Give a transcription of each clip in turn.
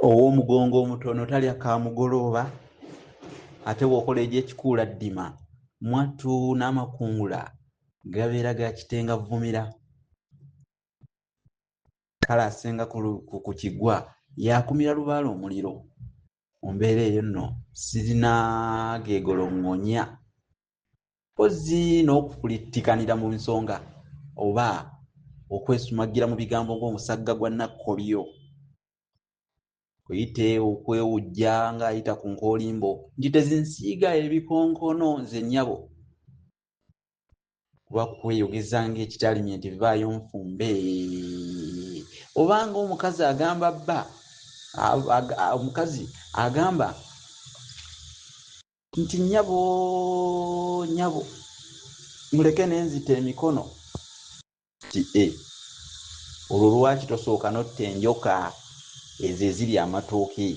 ow'omugongo omutono talya ka mugolooba ate bw'okola egy'ekikuula ddima mwattu n'amakungula gabeera ga kitenga vvumira kale asenga ku kigwa yakumira lubaala omuliro mu mbeera eyo nno sirina geegoloŋŋonya kozzi n'okukulittikanira mu nsonga oba okwesumagira mu bigambo ng'omusagga gwa nakkolyo kuyite okwewujja ng'ayita ku nkoolimbo nti tezinsiiga ebikonkono nze nnyabo kuba kweyogeza ng'ekitalimye nti vaayo nfumbe oba ng'omukazi agamba bba omukazi agamba nti nyabo nyabo muleke nenzita emikono ti e olwo lwaki tosooka notta enjoka ezo eziri amatooke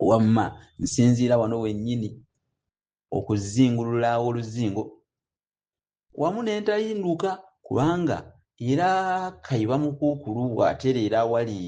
wamma nsinziira wano wennyini okuzingulula oluzingo wamu nentayinduka kubanga era kayiba mukuukulu bw'atereera awali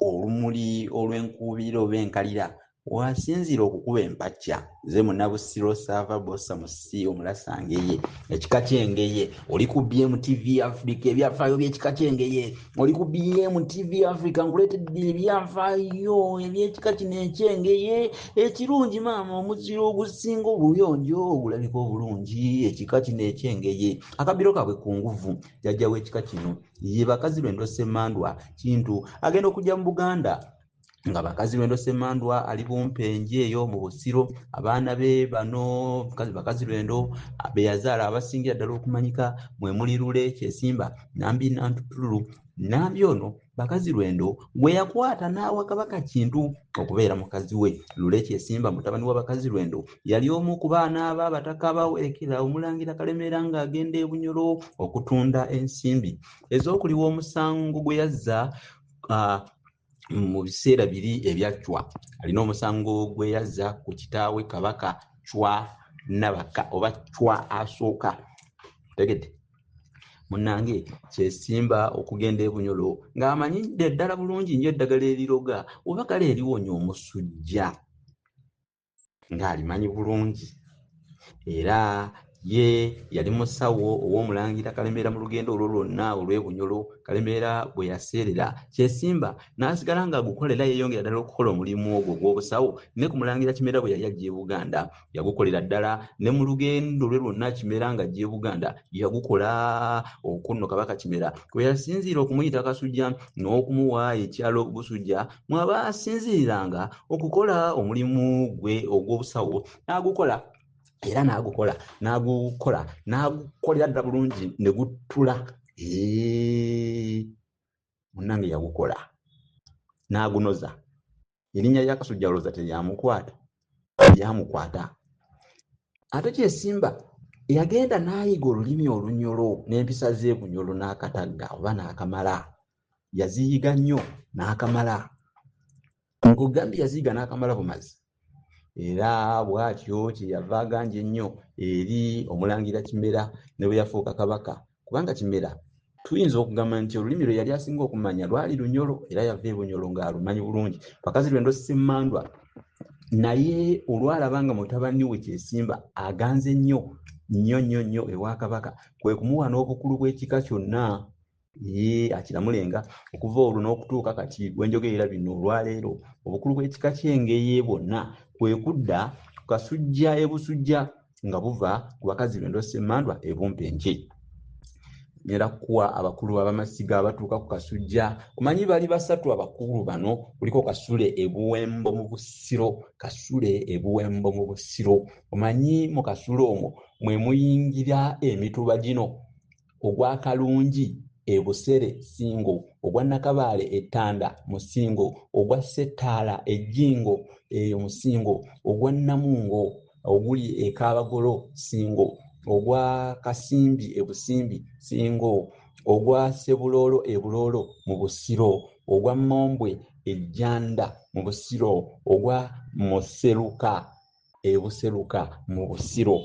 olumuli olw'enkuubirira oba enkalira wasinziira okukuba empacca ze munabusiro saava bosa musi omulasa ngeye ekika kyengeye oli ku bm tv africa ebyafaayo byekika kyengeye oli ku bm tv africa nkuleetedde ebyafaayo ebyekika kino ekyengeye ekirungi maama omuziro ogusinga obuyonjo ogulabika obulungi ekika kino ekyengeye akabiro kabwe ku nguvu jajja w'ekika kino ye bakazi lwendo semandwa kintu agenda okujja mu buganda nga bakazi lwendo semandwa ali bumpenje eyo mu busiro abaana be bano bakazi lwendo beyazaala abasingira ddala okumanyika mwemuli lule kyesimba nambi nantutululu nambi ono bakazi lwendo gwe yakwata n'awa kabaka kintu okubeera mukazi we lule kyesimba mutabani wa bakazi lwendo yali omu ku baana abo abataka abawerekera omulangira kalemeera ng'agenda e bunyoro okutunda ensimbi ez'okuliwa omusango gwe yazza ah, mu biseera biri ebya cwa alina omusango gwe yazza ku kitaawe kabaka cwa nabaka oba cwa asooka tegedde munange kyesimba okugenda ebunyolo ng'amanyi ddala bulungi nyo eddagala eriroga oba kale eriwonya omusujja ng'alimanyi bulungi era ye yali musawo ow'omulangira kalemeera mu lugendo olwo lwonna olw'ebunyolo kalemeera bwe yaseerera kyesimba n'asigala ng'agukola era yeeyongera ddala okukola omulimu ogwo ogw'obusawo ne ku mulangira kimera bwe yali ajja e buganda yagukolera ddala ne mu lugendo lwe lwonna kimera ng'ajja e buganda yagukola okunno kabaka kimera kwe yasinziira okumuyita kasujja n'okumuwa ekyalo busujja mwabaasinziriranga okukola omulimu gwe ogw'obusawo n'agukola era n'agukola n'agukola n'agukolera ddala bulungi ne guttula munnange yagukola n'agunoza erinnya lya kasujja olowooza teryamukwata eryamukwata ate kyesimba yagenda n'ayiga olulimi olunyolo n'empisa z'ebunyolo n'akatagga oba n'akamala yaziyiga nnyo n'akamala ng'ogambye yaziyiga n'akamala bumazi era bw'atyo kye yava aganja ennyo eri omulangira kimera ne bwe yafuuka kabaka kubanga kimera tuyinza okugamba nti olulimi lwe yali asinga okumanya lwali lunyolo era yava e bunyolo ng'alumanyi bulungi pakazi lwe ndosi emmandwa naye olwalaba nga mutabani we kyesimba aganze nnyo nnyo nnyo nnyo ewa kabaka kwe kumuwa n'obukulu bw'ekika kyonna Yee, akiramulenga okuva olwo n'okutuuka kati bwe njogerera bino olwaleero, obukulu bw'ekika ky'Engeye bwonna kwe kudda ku Kasujja e Busujja nga buva ku bakazi b'e Ndosemmandwa e Bumpenje. Nyera kuwa abakulu abamasiga abatuuka ku Kasujja. Omanyi bali basatu abakulu bano, kuliko Kasule e Buwembo mu Busiro, Kasule e Buwembo mu Busiro. Omanyi mu Kasule omwo mwe muyingira emituba gino. ogwa Kalungi e Busere Ssingo, ogwa Nakabaale e Ttanda mu Ssingo, ogwa Ssettaala e Jjingo eyo mu Ssingo, ogwa Namungo oguli e Kaabagolo Ssingo, ogwa Kasimbi e Busimbi Ssingo, ogwa Ssebuloolo e Buloolo mu Busiro, ogwa Mombwe e Jjanda mu Busiro, ogwa Museruka e Buseruka mu Busiro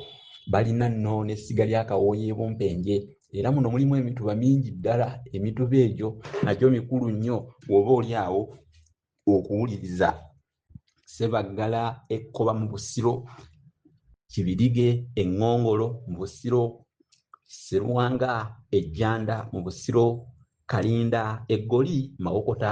balina nno n'essiga lya Kawooya e Bumpenje era muno mulimu emituba mingi ddala emituba egyo nagyo mikulu nnyo oba oli awo okuwuliriza Sebaggala ekkoba mu Busiro Kibirige eŋŋongolo mu Busiro Sserwanga ejjanda mu Busiro Kalinda eggoli Mawokota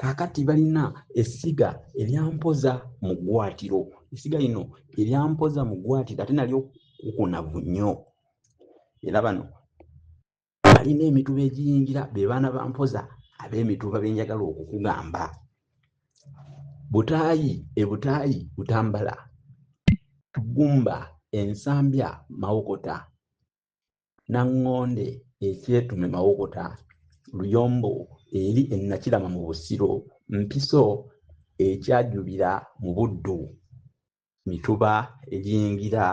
Kaakati balina essiga eryampoza mu ggwaatiro. Essiga lino eryampoza mu ggwaatiro ate nalyo kukunavu nnyo. Era bano balina emituba egiyingira be baana ba mpoza ab'emituba be njagala okukugamba. Butaayi e Butaayi Butambala, Tugumba, Ensambya, Mawokota. naŋŋonde ekyetume mawokota luyombo eri ennakirama mu busiro mpiso ekyajubira mu buddu mituba egiyingira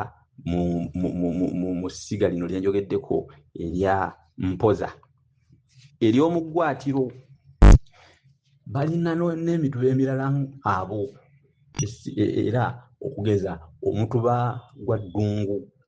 mu ssiga lino lyenjogeddeko erya mpoza eryomuggwatiro balina n'emituba emirala abo e, e, era okugeza omutuba gwa ddungu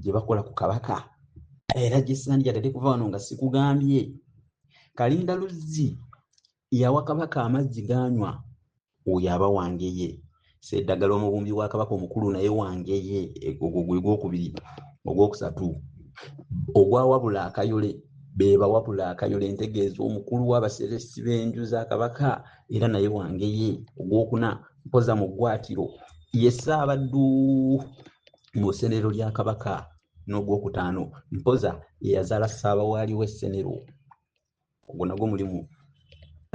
gye bakola ku kabaka era gyesandyagadde kuva wano nga sikugambye kalinda luzzi yawa kabaka amazzi ganywa oyo aba wangeye seddagala omubumbi wa kabaka omukulu naye wangeye ogwo gwe gwokubiri ogwokusatu ogwawabula akayole bebawabula akayole entegeeza omukulu wabaseresi b'enju za kabaka era naye wangeye ogwokuna mpoza mu ggwatiro ye ssaabaddu mu ssenero lya kabaka n'ogwokutaano mpoza eyazaala ssaabawaali w'essenero ogwo nagwo mulimu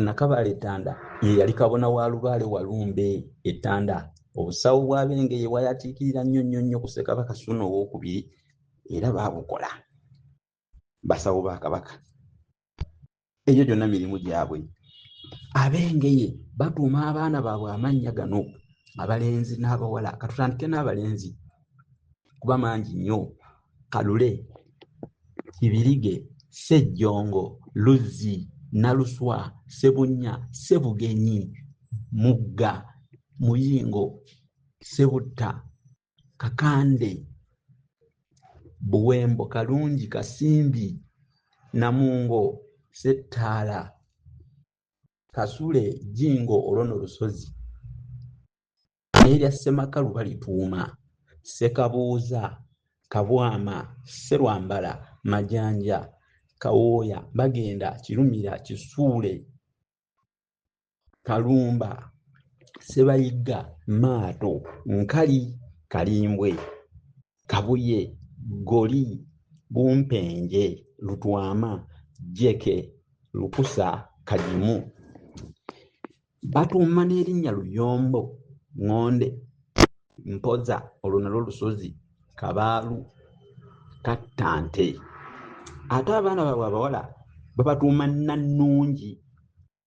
nakabaala ettanda ye yali kabona wa lubaale walumbe ettanda obusawo bwabenge ye bwayatiikirira nnyo nnyo nnyo ku ssekabaka suuna owokubiri era baabukola basawo ba kabaka egyo gyonna mirimu gyabwe abengeye batuuma abaana baabwe amannya gano abalenzi n'abawala katutandike n'abalenzi kuba mangi nnyo kalule kibirige sejjongo luzzi naluswa sebunya sebugenyi mugga muyingo sebutta kakande buwembo kalungi kasimbi namungo settaala kasule jingo olwono lusozi n'erya ssemakalu balituuma ssekabuuza kabwama sserwambala majanja kawooya bagenda kirumira kisuule kalumba sebayigga maato nkali kalimbwe kabuye goli bumpenje lutwama jeke lukusa kagimu batuuma n'erinnya luyombo ŋŋonde mpoza olwo nalwo lusozi kabaalu kattante ate abaana baabwe abawala babatuuma nannungi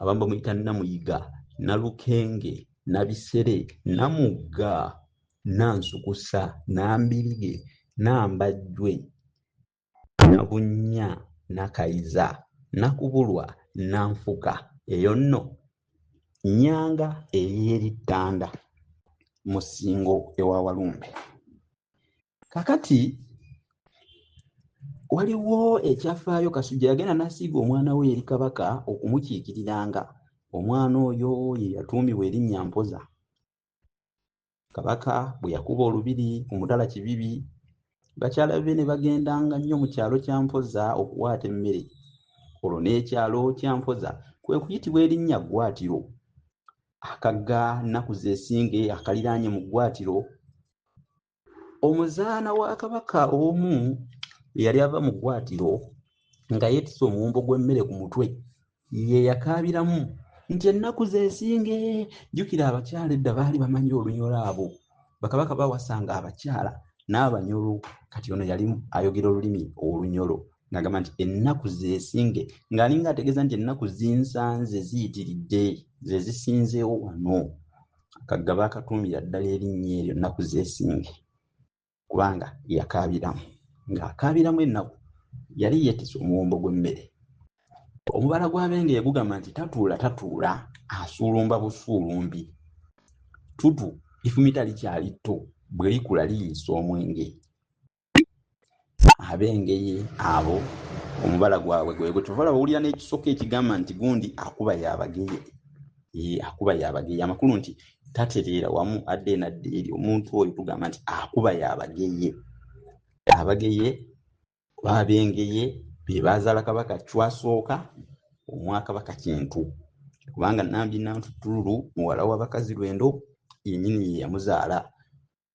abamu bamuyita namuyiga nalukenge nabisere namugga nansukusa nambirige nambajjwe nabunnya nakayiza nakubulwa nanfuka eyo nno nyanga ey'erittanda mu ssingo ewa walumbe kakati waliwo ekyafaayo kasujja yagenda nasiiga omwana we eri kabaka okumukiikiriranga omwana oyo ye yatuumibwa erinnya mpoza kabaka bwe yakuba olubiri ku mutala kibibi bakyala be ne bagendanga nnyo mu kyalo kya mpoza okuwaata emmere olwo n'ekyalo kya mpoza kwe kuyitibwa erinnya ggwatiro akagga nnaku zesinge akaliraanye mu ggwatiro omuzaana wa kabaka omu eyali ava mu ggwatiro nga yeetise omuwumbo gw'emmere ku mutwe ye yakaabiramu nti ennaku zeesinge jjukira abakyala edda baali bamanyi olunyolo abo bakabaka bawasanga abakyala n'abanyolo kati ono yali ayogera olulimi olunyolo ng'agamba nti ennaku zeesinge ng'alinga ategeeza nti ennaku zinsanze ziyitiridde ze zisinzeewo wano kagga baakatuumira ddala erinnya eryo nnaku zeesinge kubanga yakaabiramu ng'akaabiramu ennaku yali yeetise omuwumbo gw'emmere omubala gw'abenge gugamba nti tatuula tatuula asuulumba busuulumbi tutu ifumita likyali tto bwe likula liyisa omwenge ab'engeye abo omubala gwabwe gwegutuvala bawulira n'ekisoko ekigamba nti gundi akuba yabageye akuba yabageye amakulu nti tatereera wamu adde enadde eri omuntu oyo tugamba nti akuba yabageye abageye babengeye bebazaala kabaka cwasooka omwakabaka kintu kubanga nambi nantutululu muwala wabakazi lwendo yenyini yeyamuzaala